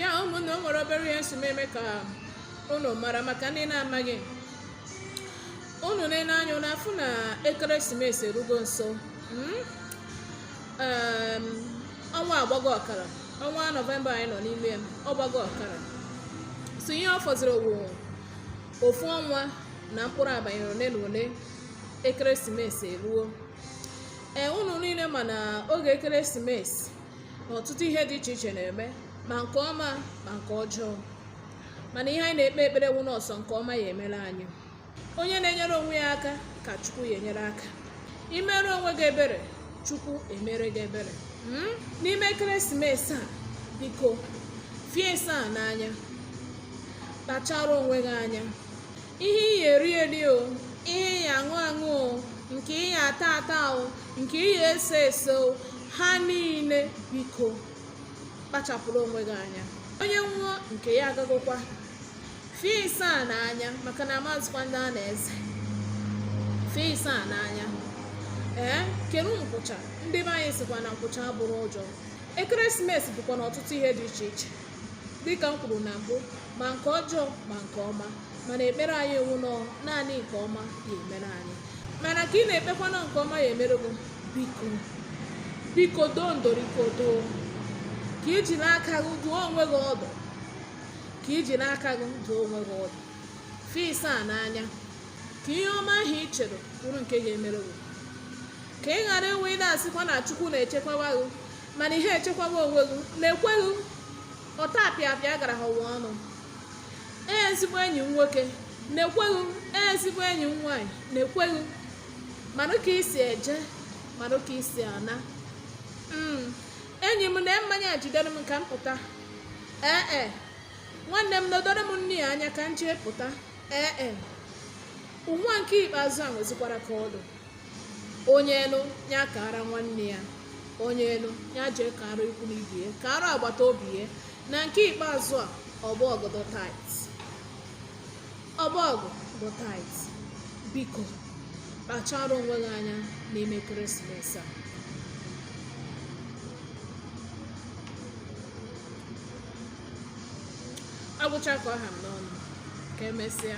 ya ụmụnne o nwere obere ihe m sị m mee ka unu mara maka ndị na-amaghị unu na-ene anya unu afụ na ekeresimesi erugo nso mm? Em, ọnwa agbago ọkara ọnwa nọvemba anyị nọ n'ime ya, ọ gbago ọkara so ihe ọ fọziri wụ ofu ọnwa na mkpụrụ abanị ole na ole ekeresimesi eruo ee unu niile ma na oge ekeresimesi na ọtụtụ ihe dị iche iche na-eme ma nke ọma ma nke ọjọọ mana ihe anyị na-ekpe ekpere wụ na ọ sọ nke ọma ya-emere anyị onye na-enyere onwe ya aka ka chukwu ya-enyere aka i mere onwe gị ebere chukwu emere gị ebere hmm? n'ime ekeresimesi a biko fie saa n'anya kpachara onwe gị anya ihe ị ya-eri eri o ihe ị ya-aṅụ aṅụ o nke ị ya-ata ata o nke ị ya-ese ese o ha niile biko kpachapụrụ onwe gị anya onye nwụọ nke ya agagokwa fie saa n'anya maka na amazịkwa ndị a na-eze fie saa n'anya ee kerụ nkwụcha ndị be anyị sịkwa na nkwụcha abụrọ ụjọ ekeresimesi bụkwa na ọtụtụ ihe dị iche iche dịka m kwuru na mbụ ma nke ọjọọ ma nke ọma mana ekpere anyị wụ na ọ naanị nke ọma ya-emere anyị mana ka ị na-ekpekwa na nke ọma ya-emere gị biko biko doo ndoriko doo ka i jiri aka gị dụọ onwe gị ọdụ ka i jiri aka gị dụọ onwe gị ọdụ fie saa n'anya ka ihe ọma ahụ ị chere bụrụ nke ga-emere gị ka ị ghara enwe ị na-asịkwa na chukwu na-echekwawa gị mana ị ya-echekwawa onwe gị na-ekweghị ọtapịapịa gara ha ụwa ọnụ ee ezigbo enyi m nwoke na-ekweghị ee ezigbo enyi m nwaanyị na-ekweghị marụ ka i si eje marụ ka i si ana mm, enyi m na mmanya a jidere m ka m pụta ee e nwanne m nedoro m nni a anya ka m jee pụta ee e ụwa nke ikpeazụ a nwezikwara ka ọ dụ onye nụ ya kaara nwanne ya onye nụ ya jee kaara ikwu na ibe ya kaara agbata obi ya na nke ikpeazụ a obodo dị tight obodo dị tight biko kpachara onwe gị anya n'ime ekeresimesi a agwụcha ka ọ ha m n'ọnụ ka emesịa